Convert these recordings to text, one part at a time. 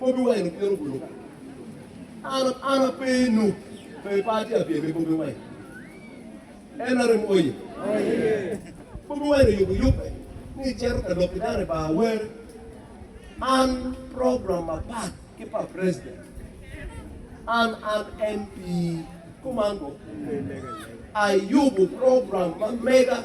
Bobi Wine okwero bulu. An an ape i Nup pe party a pyem i Bobi Wine. Nrm oye. Bobi Wine oyubo yubbe ni ecito ka lok ki dano i bar awer. An program mapat ki pa president. An an MP kuman bo. Ayubo program ma mega.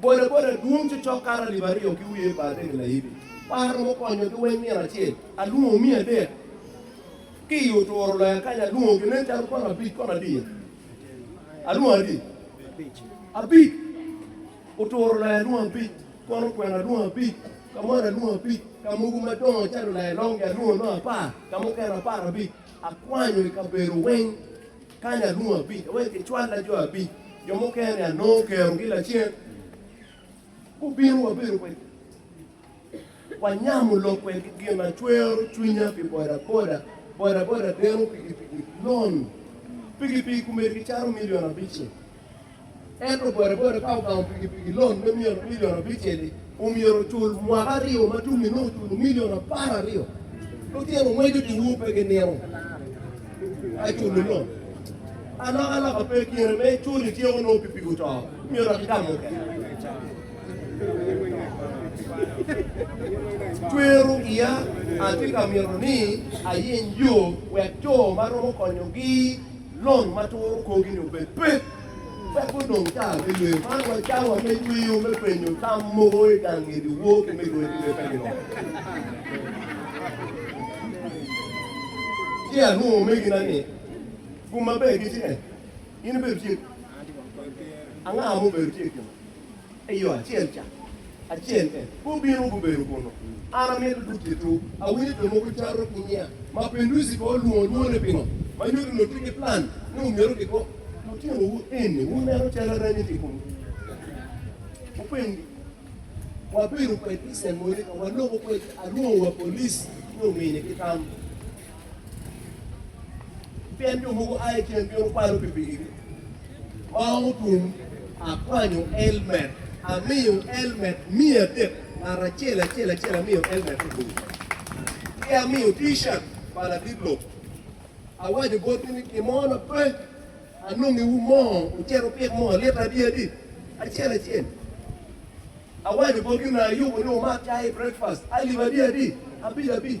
Bodaboda dwong cokcok kato alip aryo ki wiye pa adek layibi. Par romo konyo ki weny nino acel. Alwongo miya adek ki i oturo loya kany alwongo gi nen calo kono abic kono adiya. Alwongo adi? Abic. Oturo loya alwongo abic, kono kwena alwongo abic, kamwana alwongo abic, ka mogo madongo calo laya longi alwongo nongo apar, ka mukene apar abic. Akwanyo i kabedo weny. Kany alungu abic, awek kicwalla jo abic, jo mukene-ni anongo kerogi lacen. Gubino, wabedo kwedgi, wanyamo lok kwedgi. Gin a cwero cwinya pi bodaboda, bodaboda deno pikipiki, lon pikipiki komedigi caro milion abic-ci. Ento bodaboda ka ogango pikipiki lon me milion abicel-li, omyero ocul mwaka aryo ma tum inongo oculo milion apar aryo. Lutino ngweco diwu pe ginino ka culo lon. Alokaloka pe kine me cul ityeko nongo pikipiki oto, omyero dok itam mukene. Twero iya atye ka mito ni ayeny yo wek jo ma romo konyogi lony ma turo kogi-ni obed pek, wek gudong cal me yweyo. Man wa cawa me yweyo me penyo tam mogo i gang ngedi wor ki me yweyo kidong ka giromo. Ci alwongo omegina ni, Gum maber gitye kany. In ibedo tye kany? Anga ma obedo tye i kinwa? I yo acel ca acel bene gubino gubedo kunnu. An amito duk ki tur. Awinyo jo mogo cato ki nya ma Penduzi pe olwongo lwongone pingo, ma nyuto ni onongo tye ki plan ni omyero giko lutinowu eni. Wuneno calo aranyi tye i komgi. Wupenyogi, Wabedo kwedgi i Cemonika, waloko kwedgi, alwongo wa police ni omini ki tam. Pien jo mogo a i ceng bino kwalo pikipikigi ma romo tum, akwanyo elmet, amiyo elmet miya adek, ngat acel acel acel amiyo elmet aburu, ki amiyo T-shirt pa ladit lok. Awaco botgi ni, Kimona pe anongiwu mo wucit wupik moo lita adyadi acel acel? Awaco botgi, Onongo ayubo ni wumak cai, breakfast, alip adyadi abic abic?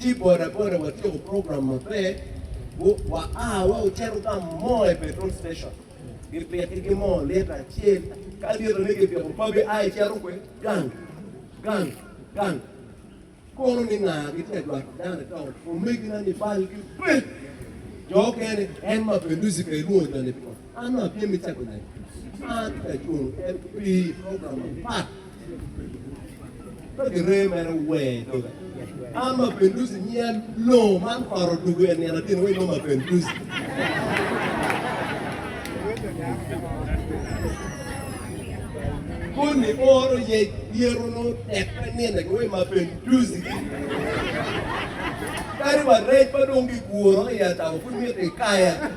Ci bodaboda watyeko program maber, wa a wa ocito ka mo i petrol station, gipiti ki mo lita acel, ka lita ne gipiko pabi a icito kwe, gang, gang, gang, kono ni nga gitye ka jwato dano i town, omegina ni bal ki bed, jo okene en ma pelusi ka ilwongo jo ni piko. An dong atye me cako nen ma atye ka cwalo en pi program mapat ka gireyo mere wer doga. An Mapenduzi nyiya loo man koro dugu en nino tino wai ma Mapenduzi. Koni oro ye yero no tek pe nino ki wai Mapenduzi. Kadi wa rec ma dong giguro i atabo pud miti kaya.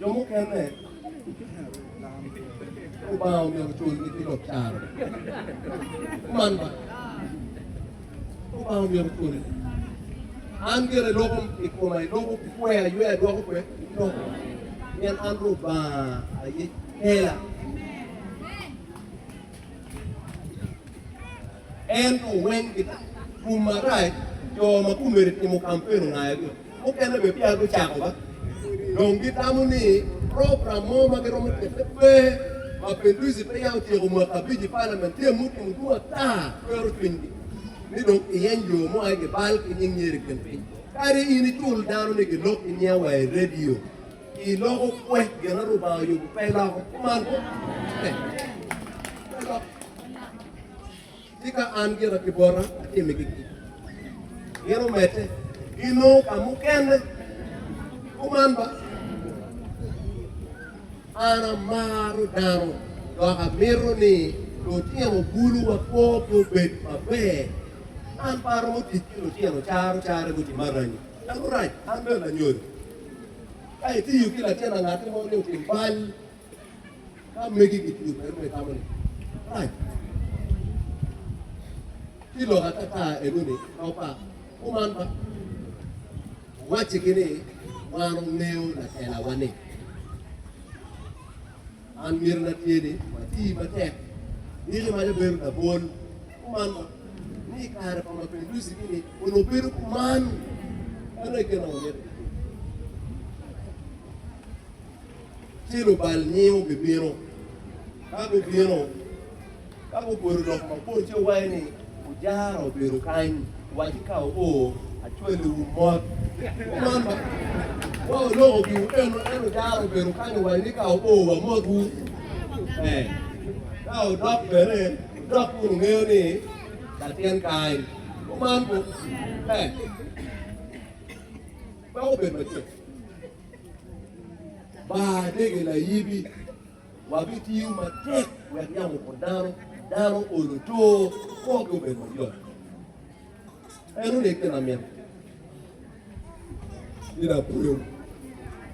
Jo mukene Lubanga omyero culgi ki lok caro. Kuman ba. Lubanga omyero culi. An gire loko i koma, iloko ki kwe, aywe adwoko kwe, iloko. Pien an Lubanga aye kela. Ento weng kita, kum marac, jo ma kumeri timo kampen ongayo dong. Mukene bene peya gucako ma dong gitamo ni program mo ma giromo kette pe. Ma Peduzzi peya otyeko mwaka abic i palamen, tye mutum otum ata twero cwinygi ni dong kiyeny jo mo aye gibal ki nying nyer i kin piny. Kadi in icul dano ni gilok ki nyinga wa i redio, iloko kwe. Gin ma Rubanga oyubo pe iloko. Kuman kop. Pe loko. Tika an gira ki bota atimi gigi? Gin omedde ki nongo ka mukene kuman ba. An amaro dano dok amito ni lutino buluwa korgi obed maber. An pe aromo tic ki lutino caro caro guti maranyi. Dano rac, an bene lanyodo. Ka itiyo ki latin angati mo ni otim bal, Ka megi gitiyo kwede ma itamo ni rac, ci lok atata enoni kop pa kuman ba, Waccigi ni wan wungeyo lakelawa ni, man miti na tye ni wati matek niki ma jabedo labol kuman ba, ni i kare pa mapinduzi-gi ni onongo bedo kuman. Meno aye gin ma wamito kitiyo. ci lubal nyingo bibino. Ka gubino, ka gupoto lok mabor ci guwaco ni, 'Ujara obedo kany, waci ka oo, acwalowu mot. Kuman ma, wa oloko giwu keno, ento ujara obedo kany owaco ni, 'Ka oo, wamotwu. Ee, ka odok bene, udok kun ungeyo ni latyen kany. Kuman ku, ee, meno obedo macek. Ba dege layibi. Wabitiyo matek wek yamo opot dano, dano olo to, kwogi obed mayot. En onege lamin. Ina pweo.